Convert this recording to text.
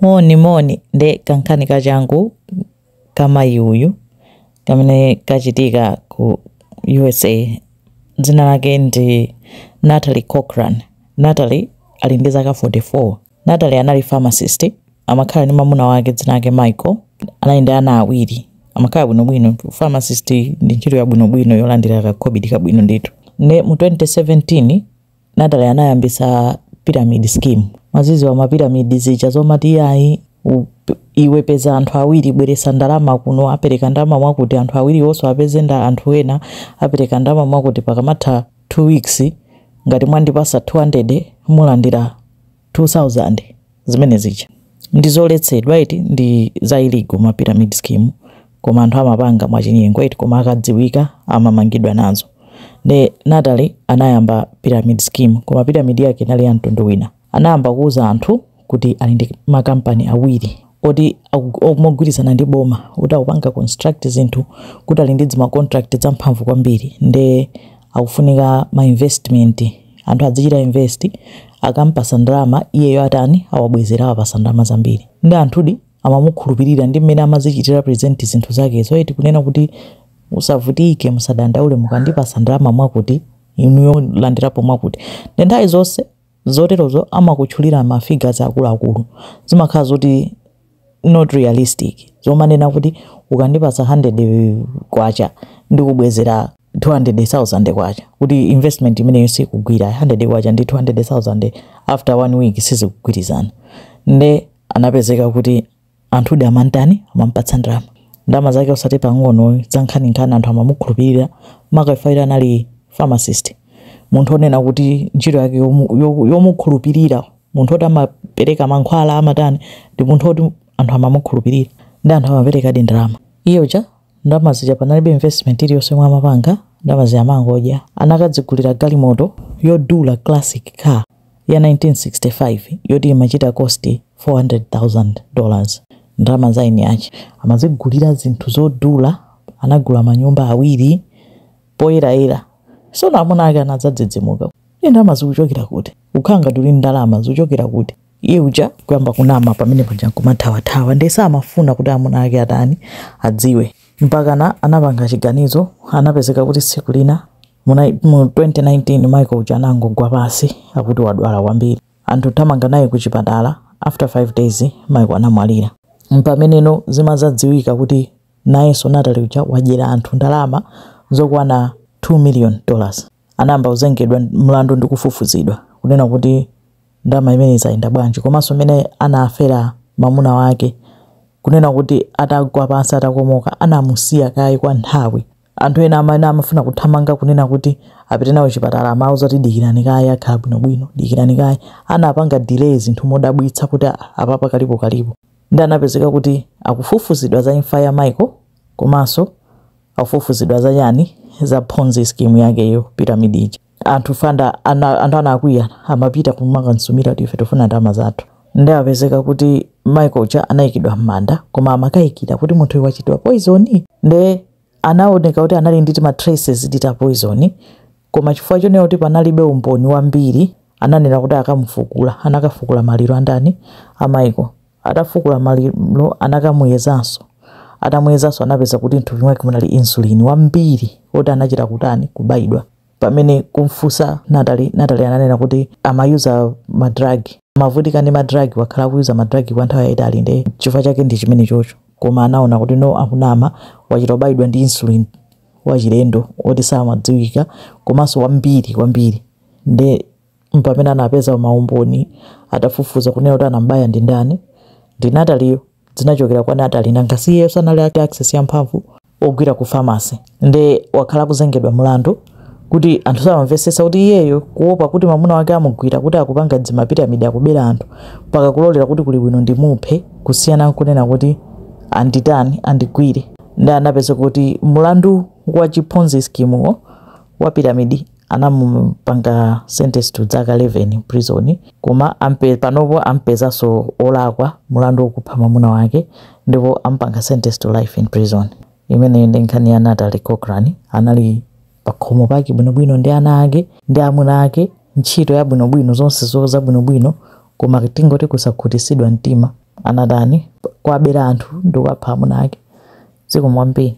Moni moni nde kankhani kachangu kamayi uyu kamene kachitika ku usa dzina lake ndi natalie cochran natalie ali ndi zaka 44 natalie anali pharmacist amakhala ndi mamuna wake dzina lake michael anali ndi ana awiri amakhala bwinobwino pharmacist ndi ntchito yabwinobwino yolandira kakobidi kabwino ndithu nde mu 2017 Natalie anayambisa pyramid scheme mwaziziwa ma pyramid zija zomati iyayi u- p- iwe peza anthu awiri bweresa ndalama kuno apereka ndalama mwakuti anthu awiriwonso apeze nda anthu ena apereka ndalama mwakuti pakamatha 2 weeks ngati mwandipasa 200 mulandira 2000 zimene zija ndizoletsedwa eti ndi za illegal ma pyramid scheme koma anthu amapanga mwachinyengo eti koma akadziwika amamangidwa nazo ne Natalie anayamba pyramid scheme koma pyramid yake inali ya mtundu wina anayamba kuuza anthu kuti ali ndi makampani awiri oti mogwirizana ndi boma kuti akupanga construct zinthu kuti ali ndi zimacontract zamphamvu kwambiri nde akufunika ma investment Anthu azichita invest akampasa ndalama iyeyo atani awabwezera awapasa ndalama zambiri nde anthudi amamukhulupirira ndi mmene amazichitira present zinthu zakezo eti kunena kuti musavutike musadandaule mukandipasa ndalama mwakuti inuyo mulandirapo mwakuti nde nthawi zonse zoterozo amakutchulira ma figures akuluakulu zimakhala zoti not realistic zomanena kuti ukandipatsa K100 ndikubwezera K200,000 kuti investment imeneyo sikugwira, K100 ndi K200,000 after one week sizikugwirizana nde anapezeka kuti anthudi amamtani? Amampatsa ndalama, ndalama zake osati pang'ono zankhaninkhani anthu amamukhulupirira maka chifukwa choti anali pharmacist munthu onena kuti ntchito yake yomukhulupirira munthu woti amapereka mankhwala amatani ndi munthu woti anthu amamukhulupirira nde anthu amaperekadi ndalama iye uja ndalama zija panalibe investment iliyonse yomwe amapanga ndalama zija amangodya anakadzigulira galimoto yodula classic car ya 1965 yoti imachita cost 400,000 dollars ndalama za eni ache amazigulira zinthu zodula anagula manyumba awiri poyerayera. Tsono amuna ake anadzadzidzimuka. Iye, ndalama zikuchokera kuti? Ukukhala ngati uli ndi ndalama zikuchokera kuti? Iye uja kuyamba kunama pamene paja kumathawathawa. Ndiye samafuna kuti amuna ake atani, adziwe. Mpakana anapanga chiganizo, anapezeka kuti tsiku lina mu nai- mu 2019 Michael uja anangogwa pansi akuti wadwala kwambiri. Anthu kuthamanga naye ku chipatala, after 5 days Michael anamwalira. Mpameneno zimadzadziwika kuti Nayenso Natalie uja wadyera anthu ndalama zokwana 2 million dollars anayamba kuzengedwa mlandu ndi kufufuzidwa kunena kuti ndalama zimenezi zayenda bwanji komanso mmene anafera mamuna wake kunena kuti atagwa pansi atakomoka anamusiya kaye kwa nthawi Anthu ena amene amafuna kuthamanga kunena kuti apite nawo chipatala amauza kuti dikirani kaye akhala bwinobwino, dikirani kaye. Anapanga delay zinthu modabwitsa kuti apapa kalipo kalipo. Nde anapezeka kuti akufufuzidwa za imfa ya Michael komanso akufufuzidwa za chani, za ponzi scheme yakeyo pyramid ija. anthu fanda ana, anthu anakwiya amapita kumakamsumira kuti ife tifuna ndalama zathu nde anapezeka kuti michael uja anayikidwa m'manda koma amakayikira kuti munthu uyu wachitiridwa poizoni nde anaoneka kuti anali ndi tima traces ta poizoni koma chifukwa chonena kuti panalibe umboni wambiri ananena kuti akamufukule anakafukula maliro andani a michael atafukula maliro anakamuyezanso atamuyezanso anapeza kuti mthupi mwake munali insulin wambiri woti anachita kutani kubayidwa pamene kumfunsa Natalie, Natalie ananena kuti amayuza ma drug, amavutika ndi ma drug, wakhala akuyuza ma drug kwa nthawi yayitali nde chifukwa chake ndi chimenechocho. Koma anaona kuti no akunama, wachita kubayidwa ndi insulin wachilendo oti samadziwika komanso wambiri kwambiri nde mpamene anapeza maumboni atafufuza kunena kuti anambaya ndi ndani ndi nataliyo zinachokera kwa natali nanga si iyeyo sanali ake access ya mphamvu ogwira ku pharmacy nde wakhala akuzengedwa mlandu koma anthu samamvetsetsa kuti iyeyo kuopa kuti mamuna wake amugwira kuti akupanga zimapiramidi akubera anthu mpaka kulolera kuti kuli bwino ndimuphe kusiyana nkunena kuti anditani andigwire nde anapeza kuti mlandu wa chiponzi skimuwo wa piramidi anamupanga sentence to zaka 11 prison koma ampe, panopo ampezaso olakwa mulandu okupha mwamuna wake ndipo ampanga sentence to life in prison imeneyi ndi nkhani ya Natalie Cochran anali pakhomo pake bwinobwino ndi ana ake ndi amuna ake ntchito ya bwinobwino zonsezo za bwinobwino koma tingoti kusakhutisidwa mtima anatani kuwabera anthu ndikuwapha amuna ake zikomo kwambiri